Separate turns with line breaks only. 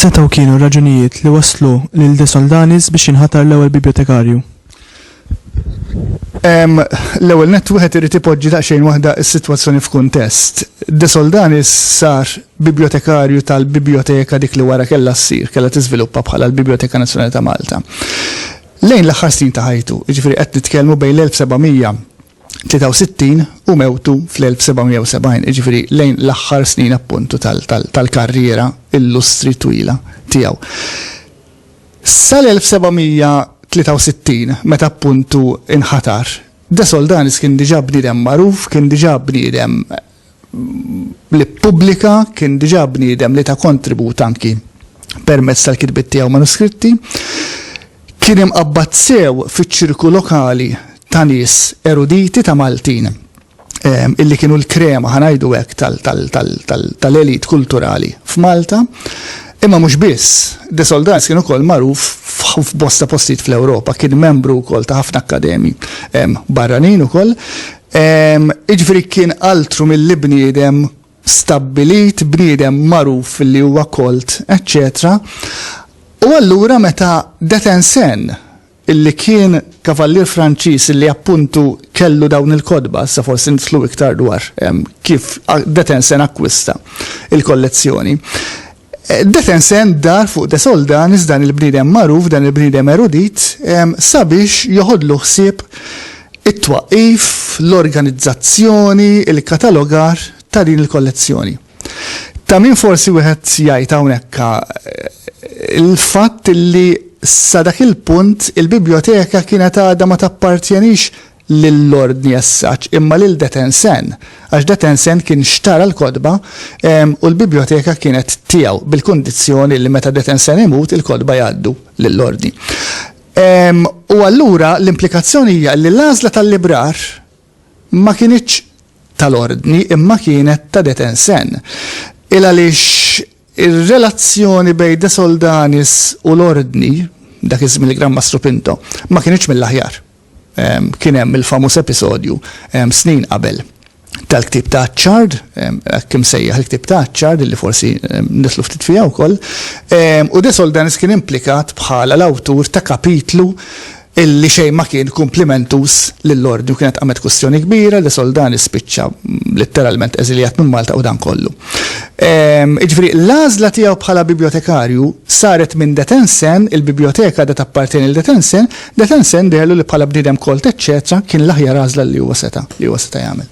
X'setgħu kienu r-raġunijiet li wasslu lil De Soldanis biex jinħatar l-ewwel bibjotekarju?
L-ewwel nett wieħed irid ipoġġi daqsxejn waħda s-sitwazzjoni f'kuntest. De Soldanis sar bibjotekarju tal-bibjoteka dik li wara kellha ssir, kellha tiżviluppa bħala l-Bibjoteka Nazzjonali ta' Malta. Lejn l-aħħar snin ta' ħajtu, jiġifieri qed nitkellmu bejn l-1763 u mewtu fl-1770, jiġifieri lejn l-aħħar snin appuntu tal-karriera illustri twila tiegħu. Sal-1763, meta appuntu nħatar, De Soldanis kien diġà bniedem magħruf, kien diġà bniedem li ppubblika, kien diġà bniedem li ta kontribut anki permezz tal-kitbiet tiegħu manuskritti. Kien imqabbad sew fiċ-ċirku lokali ta' nies eruditi ta' Maltin. illi kienu l-krema ħa ngħidu hekk tal-elite kulturali f'Malta. Imma mhux biss, De Soldans kien ukoll magħruf f'bosta postijiet fl-Ewropa, kien membru wkoll ta' ħafna akkademji barranin ukoll. Jiġifieri kien altru milli bniedem stabbilit, bniedem magħruf li huwa kolt, eċċetera. U allura meta Detensen illi kien kavallier Franċiż illi appuntu kellu dawn il-kotba, issa forsi nidħlu iktar dwar kif Detensen akkwista l-kollezzjoni. Detensen dar fuq de Soldanis, dan il-bniedem magħruf, dan il-bniedem erudit, sabiex joħodlu ħsieb it-twaqqif, l-organizzazzjoni, il-katalogar ta' din il-kollezzjoni. Ta' min forsi wieħed jgħid hawnhekk il-fatt li sa dak il-punt il-bibljoteka kienet għadha ma tappartjenix lill-Ordni as such imma lil detensen, għax detensen kien xtara l-kotba u l-bibljoteka kienet tiegħu bil-kundizzjoni li meta detensen imut il-kotba jgħaddu lill-Ordni. U allura l-implikazzjoni hija li l-għażla tal-librar ma kinitx tal-Ordni imma kienet ta' Detensen, il għaliex ir-relazzjoni bejn De Soldanis u l-Ordni, dak iż-żmien il-Gran Mastru Pinto, ma kinitx mill-aħjar. Kien hemm il-famuż episodju, snin qabel, tal-ktieb ta' Achard, hekk imsejjaħ il-ktieb ta' Achard, li forsi nidħlu ftit fiha wkoll, u De Soldanis kien implikat bħala l-awtur ta' kapitlu li xejn ma kien kumplimentuż lill-Ordni u kienet qamet kwistjoni kbira li Soldani spiċċa litteralment eżiljat minn Malta u dan kollu. Jiġifieri l-għażla tiegħu bħala bibjotekarju saret minn De Tensen, il-bibjoteka għadha tappartjeni lil De Tensen, De Tensen deherlu li bħala bniedem kolt eċċetera kien l-aħjar għażla li huwa seta' jagħmel.